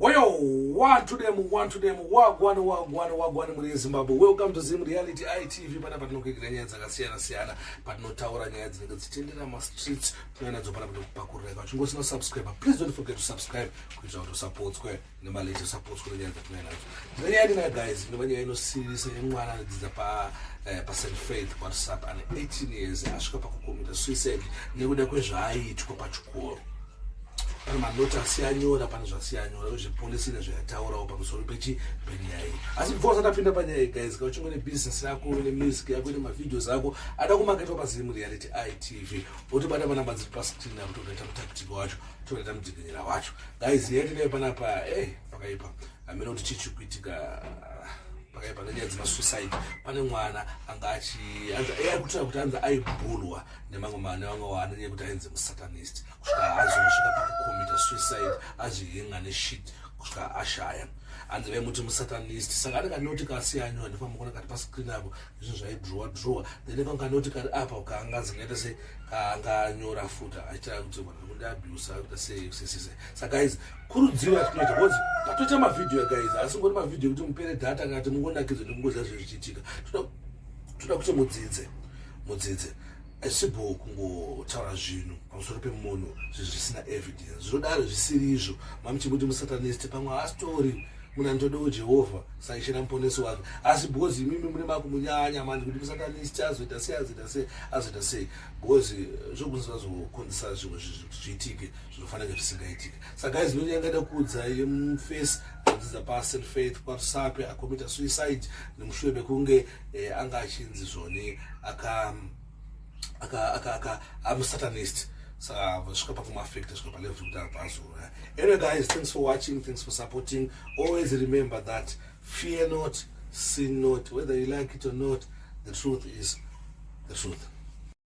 Woyo, one to them, one to them, wagwane, wagwane, wagwane muri Zimbabwe. Welcome to Zim Reality ITV. Pana patinokuigira nyaya dzakasiyana siyana, patinotaura nyaya dzinenge dzichitendera ma streets, nyaya nadzo pana patinokupakurira. Kana uchingosi na subscribe, please don't forget to subscribe kuitira kuti usapotswe nema latest supports kune nyaya dzatinai nadzo. Ndine nyaya ndina guys, ndine nyaya inosiririsa yemwana anodzidza pa eh, pa St Faith WhatsApp ane 18 years asvika pakukomita suicide nekuda kwezvaaitwa pachikoro. pane manoti asiyanyora pane zvasiyanyora izvi polisi ine zvayataurawo pamusoro pechi penyaya iyi asi before usati apinda panyaya iyi guys ka uchingo ne business yako ne music yako ne mavideos ako ada kumaketwa pazimu reality itv otobata panamba dziri pascreen apo tokaita mutactic wacho tokaita mudzikinyira wacho guys yatinayo panapa ey eh, pakaipa amene kuti chichi kuitika pakaipa nenyaya dzemasuicide pane mwana anga achikutira eh, kuti anzi aibhulwa nemamwe mane vamwe wana nyaya kuti ainzi musatanist kusvika azosvika pakukomita suicide azvihinga neshit kusvika ashaya hanzi vaimuti musatanist saka anenge anoti kasi yanyu handifamba kuona kati pascreen apo izvo zvaidrowa drowa then kanga anoti kari apa kaanga zingaita se kaanga anyora futa achitaa kuti vanhu vekuti abusa kuita sesese sa guys kurudziro yatinoita bcause tatoita mavhidhiyo guys asi ngoti mavhidhiyo kuti mupere data kati mungonakidzwa nekungoziva zvezvichiitika toda kuti mudzidze mudzidze aisibhoo kungotaura zvinhu pamusoro pemunhu zvinhu zvisina evidence zvinodaro zvisiri izvo mamuchimuti musatanist pamwe haasitori munhu anotodewo jehovha saishira muponesi wake asi because imimi mune makumunyanya mandi kuti musatanist azoita sei azoita sei azoita sei because eh, zvokunzi vazokonzesa zvimwe zvinhu kuti zviitike zvinofanira zvisingaitike saka izvi ndinoti yangaita kuudza iye mufesi anodzidza paselfaith kwarusape akomita suicide nemushure mekunge eh, anga achinzi zvoni aka aka aka aka I'm a satanist so vasvika pakumafekta svika palevel zvekuti apazora anyway guys thanks for watching thanks for supporting always remember that fear not sin not whether you like it or not the truth is the truth